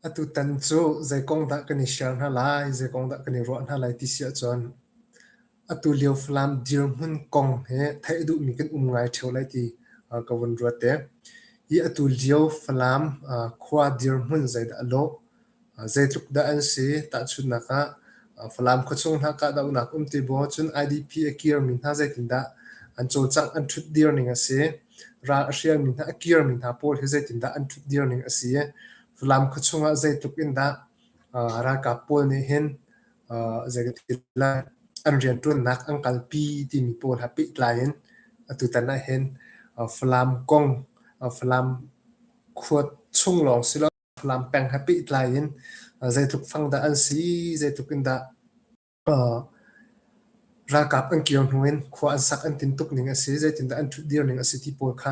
Atutan cu zeikong dah kan i share hna lai, zeikong dah kan i ruah hna lai ti si ahcun atulio Falam dirhmun kong hi theih duhmi kan um ngai ṭheo lai ti ka vun ruat te. Hi atulio Falam khua dirhmun zeidah a lawh? Zeitluk dah an si? Tahchunhnak ah, Falam khuachung hna kahdohnak um ti maw? Cun IDP a kirmi hna zeitindah an cawlcangh an ṭhutdir ning a si? Ral a hrialmi hna, a kirmi hna pawl hi zeitindah an ṭhutdir ning a si? Falam khuachung ah zeitluk in dah ralkap pawl nih hin zeiti lai an rianṭuannak an kalpi timi pawl ha pehtlai in atutan ah hin Falam kong, Falam khua chung lawng si lo, Falam peng he pehtlai in zeitluk fang dah an si, zeitluk in dah ralkap an kir hnu in khua an sak an tin tuk ning a si, zeitindah an ṭhutdir ning a si ti pawl kha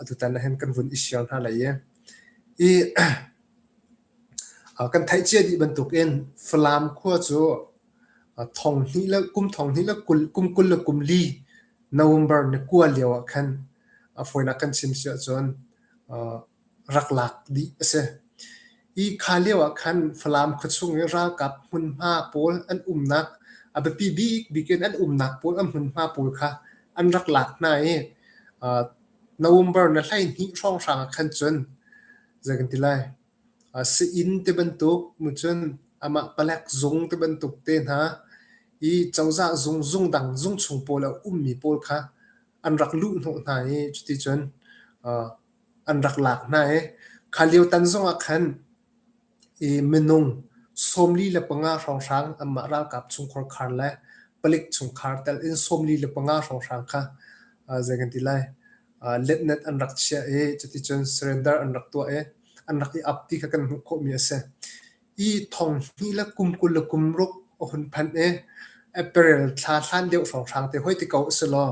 atutan ah hin kan vun i sial hna lai i i kan theihcia dih bantuk in Falam khua cu thong hnih le kum thong hnih le kum kul le kum li November ni kua lio ah khan a fawinak kan chim si ahcun rak lak dih a si. Hi kha lio ah khan Falam khuachung i ralkap hmunhma pawl an umnak, a biapi bikbik in an umnak pawl, an hmunhma pawl kha an rak lak hna i uh, November na hleihnih hrawnghrang ah khan cun zei kan ti lai, uh, si-inn ti bantuk, mu cun amah palek zung ti bantuk te hna, i cozah zung, zung dang, zung chung pawl a ummi pawl kha an rak luh hnawh hna i cuti cun uh, an rak lak hna i kha lio tan zongah khan i minung sawmli le panga hrawnghrang anmah ralkap chungkhar khar le palik chungkhar tel in sawmli le panga hrawnghrang kha zei kan ti lai letnet an rak chiah i cuticun surrender an rak tuah i an rak i ap ti kha kan hmuh khawhmi a si i thong hnih le kum kul le kum ruk a hun phanh i april thla hlan deuh hrawnghrang te hoi ti ko a si law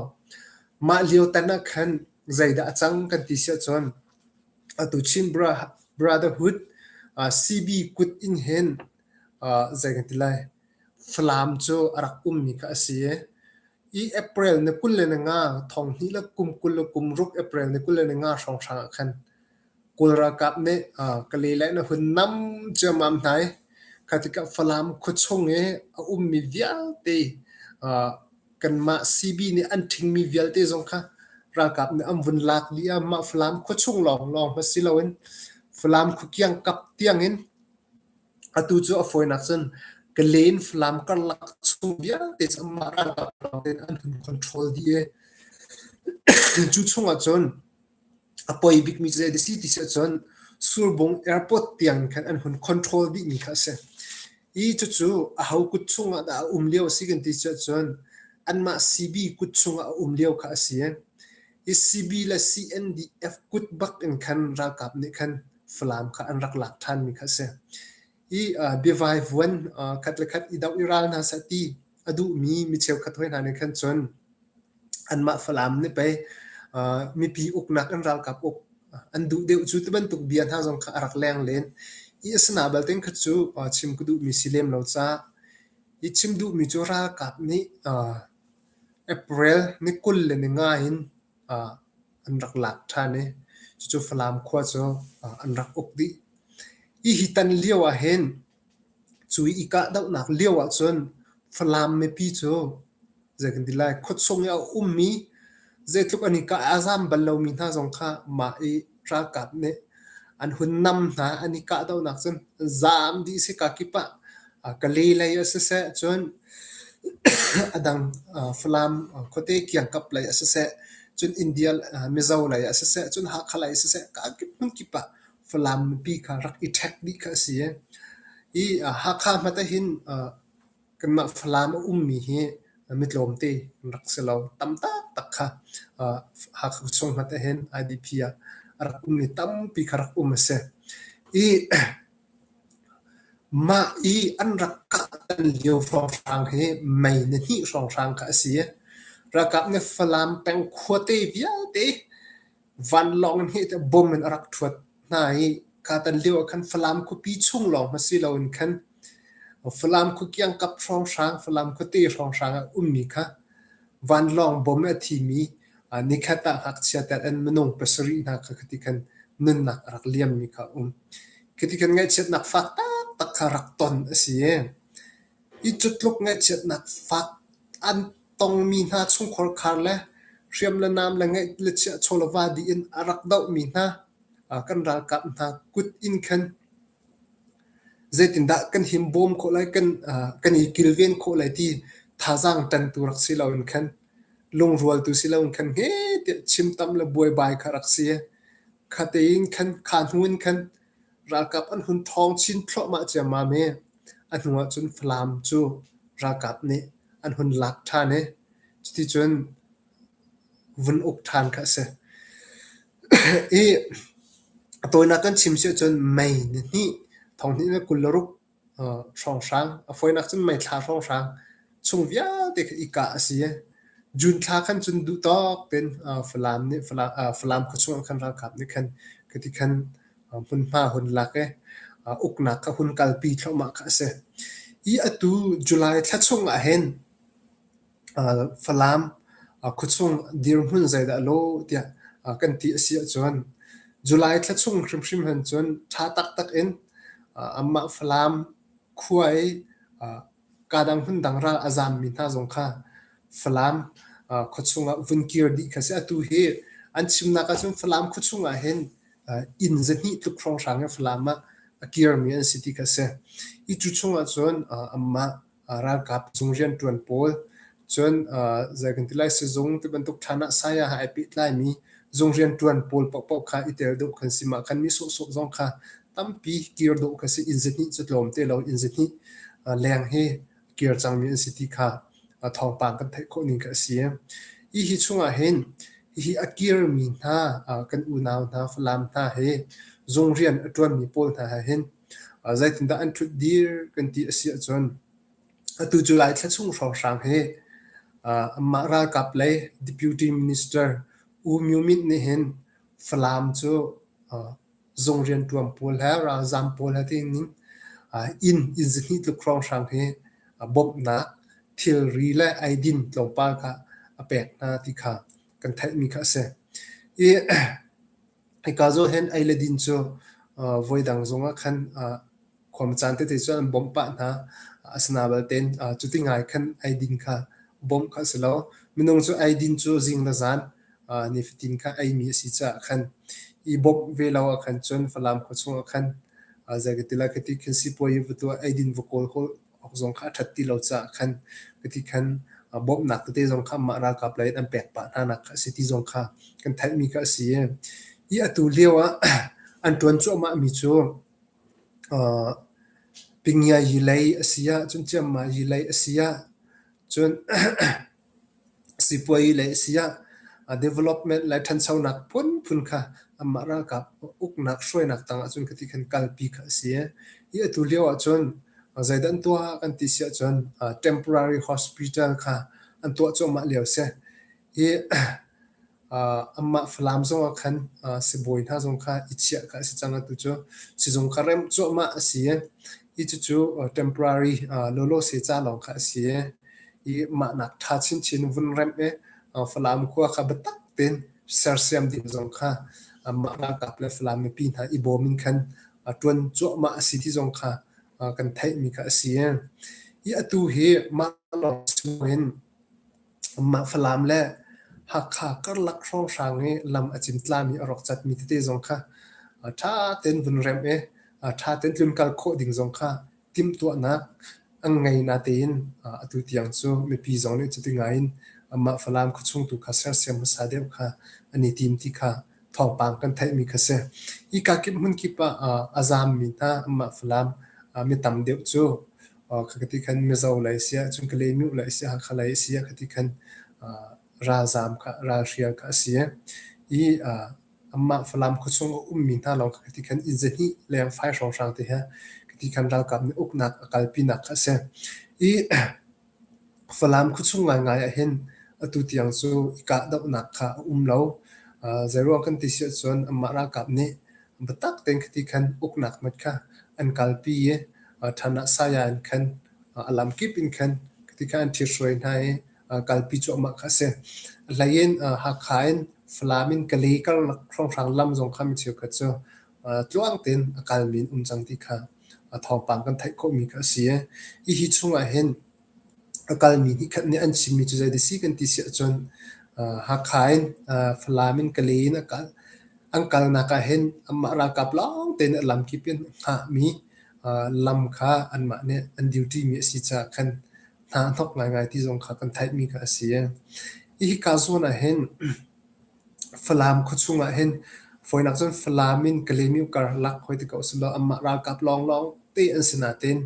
mah lio tan ah khan Zeidah a cang kan ti siahcun atu Chin Brotherhood CB kut in hin zei kan ti lai Falam cu a rak ummi kha a si i i April ni kul le ni nga thong hnih le kum kul le kum ruk April ni kul le ni nga hrawnghrang ah khan Kawl ralkap nih Kalay na hun nam ciammam hna i kha tikah Falam khuachung i a ummi vialte kanmah CB nih an ṭhingmi vialte zong kha ralkap nih an vun lak dih i mah Falam khuachung lawnglawng hmanh si loin Falam khuakiang kap tiangin atu cu a fawinak cun Kalay in Falam karlak chung vialte cu amah ralkap lawngte nih an hun control dih i cu chungah cun A poi bikmi cu zei a si ti si ahcun Surbung Airport tiang in khan an hun control dihmi kha a si. I cucu aho kut chungah dah a um lio a si kan ti si ahcun anmah CB kut chungah a um lio kha a si. I CB le CNDF kut bak in khan ralkap nih khan Falam kha an rak lak ṭhanmi kha a si. i uh, biavai vuan uh, khat le khat i doh i ral hna sah ti a duhmi mi cheukhat hoi hna nih khan cun anmah falam nih pei uh, mipi uknak an ralkap uk an duh deuh cu ti bantuk bia hna zong kha a rak leng len i asana balten kha cu uh, chim ku duhmi si lem lo ca i chim duhmi cu ralkap nih uh, april ni kul le ni nga in an rak lak ṭhan i cucu Falam khua cu an rak uk dih. Hihi tan lio ahhin cu i kahdohnak lio ahcun Falam mipi cu zei kan ti lai khuachung i a ummi zeitluk an i kah a zam bal lomi hna zong kha mah i ralkap nih an hun nam hna an i kahdohnak cun zaam dih si ka kip ah Kali lei a si seh cun a dang Falam khuate kiangkap lei a si seh cun India Mizo lei a si seh cun Hakha lei a si seh ka kip hmun kip ah Falam mipi kha rak i ṭhek dih kha a si i Hakha hmate hin Kanmah Falam a ummi hi mitlawm te an rak si lo. Tam taktak kha Hakha khuachung hmat ahhin IDP ah a rak um i tampi kha rak um a si. I mah i an rak kahtan lio hrawnghrang hi mei na hnih hrawnghrang kha a si. Ralkap nih Falam peng khuate vialte vanlawng in heh tiah bom in a rak ṭhuat hna i katan lio ah khan Falam khuapi chung lawng hmasi loin khan Falam khua kiangkap hrawnghrang, Falam khuate hrawnghrang ah ummi kha vanlawng bom i a thimi uh, nikhat ah ngakchia tet an minung pasarih hna kha khati khan nunnak a rak liammi kha um. Khati khan ngaihchiatnak fak taktak kha rak ton a si i I cutluk ngaihchiatnak fak an tongmi hna chungkhar khar le hriam le nam le ngeih le chiah chawlava dih in a rak dohmi hna kan ralkap hna kut in khan zeitindah kan him bawm khawh lai kan kan i kilven khawh lai ti thazaang ṭantu rak si lo in khan lungrualtu si lo in khan he tiah chimtam le buaibai kha rak si. Kha tein khan kha hnu in khan Ralkap an hun thawng chin thluahmah ciammam i a hnuah cun Falam cu ralkap nih an hun lak ṭhan i cuticun vun uk ṭhan kha a si. I a tawinak kan chim si ahcun May ni hnih thong hnih le kul le ruk hrawnghrang. A fawinak cun meithla hrawnghrang chung vialte kha i kah a si i June thla khan cun duhtawk tein Falam nih Falam khuachung ah khan ralkap nih khan cuti khan hmunhma hun lak i uknak kha hun kalpi thluahmah kha a si. Hi atu July thla chung ah hin Falam khuachung dirhmun zeidah a law tiah kan ti a si ahcun July thla chung hrimhrim hin cun ṭha taktak in anmah Falam khua i kaa dang hmun dang raang a zaammi hna zong kha Falam khuachung ah vun kir dih kha a si. Atu hi an chimnak ahcun Falam khuachung ah hin inn zahnih tluk hrawnghrang in Falam ah a kirmi an si ti kha a si. Hi cu chung ahcun anmah ralkap chung riantuan pawl cun zei kan ti lai sizung ti bantuk thlan ah saya ha ai pehtlai mi zung riantuan pawl pohpoh kha i tel deuh kan si mah kan mi sawhsawh zong kha tampi kir deuh ka si in zahnih cu tlawm te lo in zahnih leng hi kir cang mi an si ti kha thawngpang kan theih khawh ning ka si i hi chungah hin hi a kir mi hna kan unau hna falam hna he zung rian a tuan mi pawl hna ha hin zeitindah an ṭhut dir kan ti a si ahcun atu cu Lai thla chung hrawnghrang hi anmah ralkap lei deputy minister U Myo Myint nih hin Falam cu zung rianṭuan pawl he ralzam pawl he tiin inn inn zihni tluk hrawnghrang hi bawmhnak thilri le eidin tlawmpal kha a pek hna ti kha kan theihmi kha a si. I Hika zohin ei le din cu voidang zongah khan khuamcaan tete cu an bawmh pah hna. Asinain balte cuti ngai khan ei din kha bawmh kha a si lo. Minung cu ei din cu zing le zan nifatin kha eimi a si caah khan i bawmh ve lo ahkhan cun Falam khua chungah khan zei ka ti lai khi ti khin sipuazi va tuah, ei din va kawl awk zong kha a ṭhat ti lo caah khan mithi khan bawmhnak tete zong kha mah ralkap lei in an pek pah hnanak kha a si ti zong kha kan theihmi kha a si. Hi atu lio ah an ṭuan cuahmahmi cu Pingyai yi lei a si ah cun Ciammai yi lei a si ah cun Sipuayi le sayah development le ṭhanchonak phunphun kha anmah ralkap uknak hruainak tang ahcun khi ti khin kalpi kha a si. Hi atu lio ahcun zeidah an tuah kan ti si ahcun temporary hospital kha an tuah cuahmah lio a si. Hi Amah Falam zong ah khan sibawi hna zong kha i chiah kha a si cang. Atu cu sizung kha remh cuahmah a si i, i cucu temporary lawlawse ca lawng kha a si i, i mahnak ṭha chinchin vun remh i Falam khua kha biatak tein sersiam ding zong kha amah ralkap le Falam mipi hna i bawm in khan ṭuan cuahmah a si ti zong kha kan theihmi kha a si. I atu hi mah lawng si loin Mah Falam le Hakha karlak hrawnghrang hi lam a cimtlami a rawk catmi tete zong kha ṭha tein vun remh i ṭha tein tlun kal khawh ding zong kha timhtuahnak an ngei natein atu tiang cu mipi zong nih cuti ngai in mah Falam khuachung tu kha sersiam hmasa deuh kha an i tim ti kha thawngpang kan theihmi kha si. Hika kip hmun kip ah a zaammi hna mah Falam mi tam deuh cu ka ti khan Mizo lei siah cun Kalay-Myu lei siah Hakha lei siah ka ti khan ralzaam kha ralhrial kha a si i amah Falam khuachung a ummi hna lawng kha ka ti khan Izzahni lengfai hrawnghrang te he ka ti khan ralkap nih uknak a kalpinak kha a si i Falam khuachung ngaingai ah hin atu tiang cu i kahdohnak kha a um lo. Uh, zeiruang kan ti si ahcun amah ralkap nih biatak tein khiti khan uknak mit kha an kalpi i uh, than ah saya in khan uh, a lam kip in khan khiti khan an thirhruai hna i uh, kalpi cu amah kha a si. Hlei in uh, Hakha in Falam in Kalay karlak hrawnghrang lam zong kha mi cheukhat cu uh, tluang tein a kalmi in um cang ti kha uh, thawngpang kan theih khawhmi kha a si i hi chung ah hin a kalmi nih khat nih an chimmi cu zei si kan ti si ahcun Hakha in Falam in Kalay in a kal. An kalnak ahhin anmah ralkap lawng tein a lamkip in hngahmi lam kha anmah nih an duty-mi a si caah khan hna a hnawk ngaingai ti zong kha kan theihmi kha a si. Hi hi kaa zawn ahhin Falam khuachung ah hin fawinak cun Falam in Kalemyo karlak hoi ti ko a si lo anmah ralkap lawnglawng te an si natein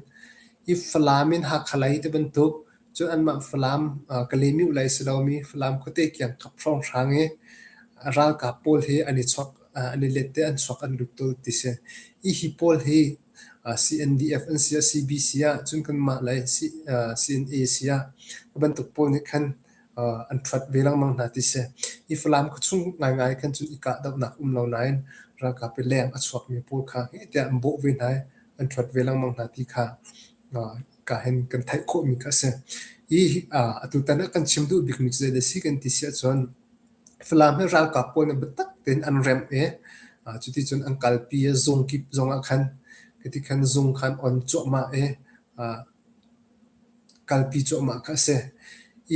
hi Falam in Hakha lei ti bantuk cun anmah Falam uh, Kalemyo lei si lomi Falam khuate kiang khap hrawnghrang i ralkap pawl hi an i chuak uh, an i let te an chuak an lut to ti si hi hi pawl hi uh, CNDF an si ah CBC ah cun kanmah lei C, uh, CNA si ah bantuk pawl nih khan an ṭhuat ve lengmang hna ti si. I Falam khuachung ngaingai khan cun i kahdohnak um lo nain ralkap i leng a chuakmi pawl kha heh tiah an bawh ve hna i an ṭhuat ve lengmang hna ti kha ka hen kan theih khawhmi kha a si. I atutan ah kan chim duh bikmi cu zeidah a si kan ti si ahcun Falam hi ralkap pawl nih biatak tein an remh i cuti cun an kalpi i zung kip zongah khan hiti khan zung khan on cuahmah i kalpi cuahmah kha a si.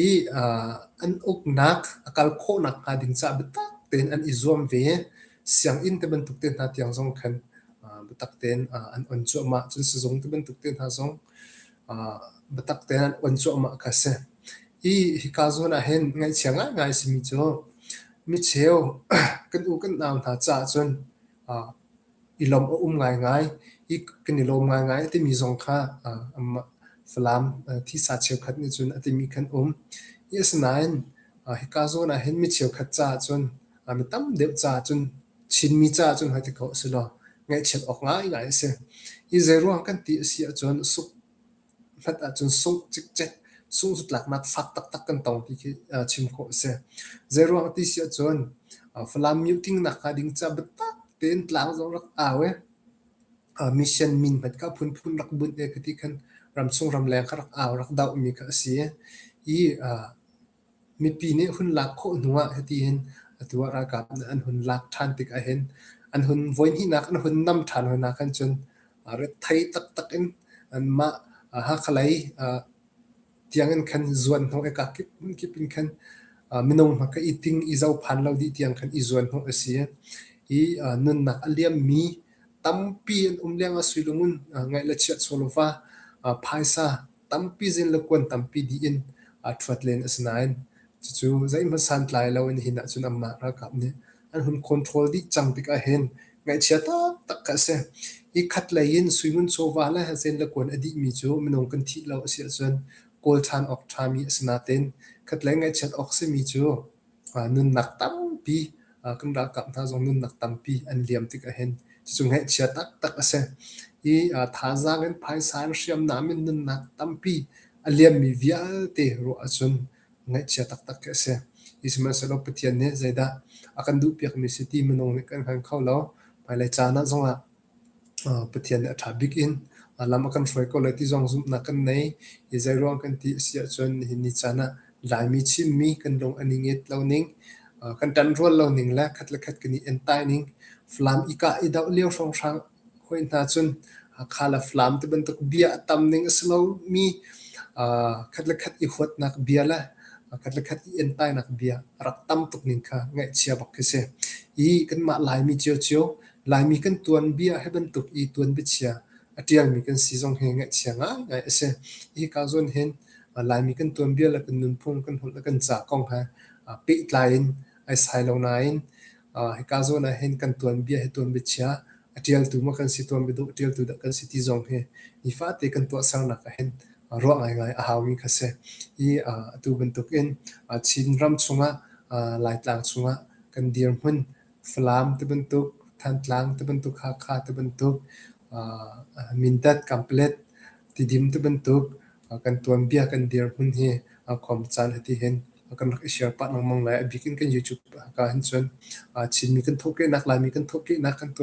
I uh, an uknak a kal khawhnak hnga ding caah biatak tein an i zuam ve. Sianginn te bantuk te hna tiang zong khan uh, biatak tein uh, an on cuahmah. Cun sizung te bantuk te hna zong uh, biatak tein an on cuahmah kha a si. I hika zawn ah hin ngaihchia ngaingai simi cu micheu kan u kan nau hna caah cun uh, i lawmh a um ngaingai, i kan i lawm ngaingai a timi zong kha amah Falam thisa cheukhat nih cun a timi kan um. I asinain hika zawn ah hin mi cheukhat caah cun mi tam deuh caah cun Chinmi caah cun hoiti ko a si law ngaihchiat awk ngaingai a si. Hi zeiruang kan ti a si ahcun, a suk hlat ahcun sungh cikcek sungzutlaknak fak taktak kan tong ti khi chim khawh a si. Zeiruang a ti si ahcun Falam miuhtling nak hnga ding ca biatak tein tlang zong rak au i mission min hmat ka phunphun rak bunh i kati khan ramchung ramleng kha rak au rak doh mi kha a si i Mipi nih hun lak khawh hnu ah hiti hin atu ah ralkap nih an hun lak ṭhan tik ahhin an hun voihnihnak an hun nam ṭhan hawinak khan cun rethei taktak in anmah Hakha lei tiangin khan zuanhnawh i kak kip in khan minung hmaka i ting i zophan lo dih tiang khan i zuanhnawh a si. I nunnak a liammi tampi an um lengah suilung in ngaih le chiah sual a va, phaisa tampi zin le kuan tampi dih in aa ṭhuat len a si nain cucu zeihmanh santlai loin hi nahcun amah ralkap nih an hun control dih cang tikah hin ngaihchia taktak kha a si. Hi khat lei in suingun chawva le zen le kuan a dihmi cu minung kan thih lo a si ahcun kawl ṭhan awk ṭhami a si nain khatlei ngaihchiat awk simi cu nunnak tampi kan ralkap hna zong nunnak tampi an liam tik ahhin cucu ngaihchia taktak a si. I thazaang in phaisa in hriamnam in nunnak tampi a liammi vialte ruah ahcun ngaihchia taktak khi a si. Sihmanhsehlaw Pathian nih zeidah a kan duhpiakmi si ti minung nih kan hngal kho lo. Hmailei caan ah zongah Pathian nih a ṭha bik in lam a kan hruai ko lai ti zong zumhnak kan nei. Hi zeiruang kan ti a si ahcun nihin ni caan ah Laimi chimmi kan lung a ningit lo ning, kan ṭanrual lo ning le khat le khat kan i entai ning. Falam i kah i doh lio hrawnghrang hoi hna cun Hakha le Falam tibantuk bia a tam ning a si lomi khat le khat i huatnak bia le khat le khat i entainak bia a rak tam tuk ning kha ngaihchia bak khi si. Hi kanmah Laimi cio cio Laimi kan tuanbia hi bantuk i tuanbiachia a ṭialmi kan si zong hi ngaihchia ngaingai a si. Hika zawn hin Laimi kan tuanbia le kan nunphung, kan holh le kan ca kong he pehtlai in ai sai lo nain hika zawn ah hin kan tuanbia hi tuanbiachia a ṭialtu maw kan si, tuanbiaduk a ṭialtu dah kan si ti zong hi nifate kan tuahsernak ah hin ruah ngaingai a haumi kha a si. Hi atu bantuk in Chin ram chungah Laitlang chungah kan dirhmun Falam tibantuk, Thantlang tibantuk, Hakha tibantuk, Mindat, Kanplet, Tidim tibantuk kan tuanbia kan dirhmun hi a khuam caan a ti hin kan rak i share pah lengmang lai. A bik in kan YouTube ka hin cun Chinmi kan thawhkehnak, Laimi kan thawhkehnak kan tuanbia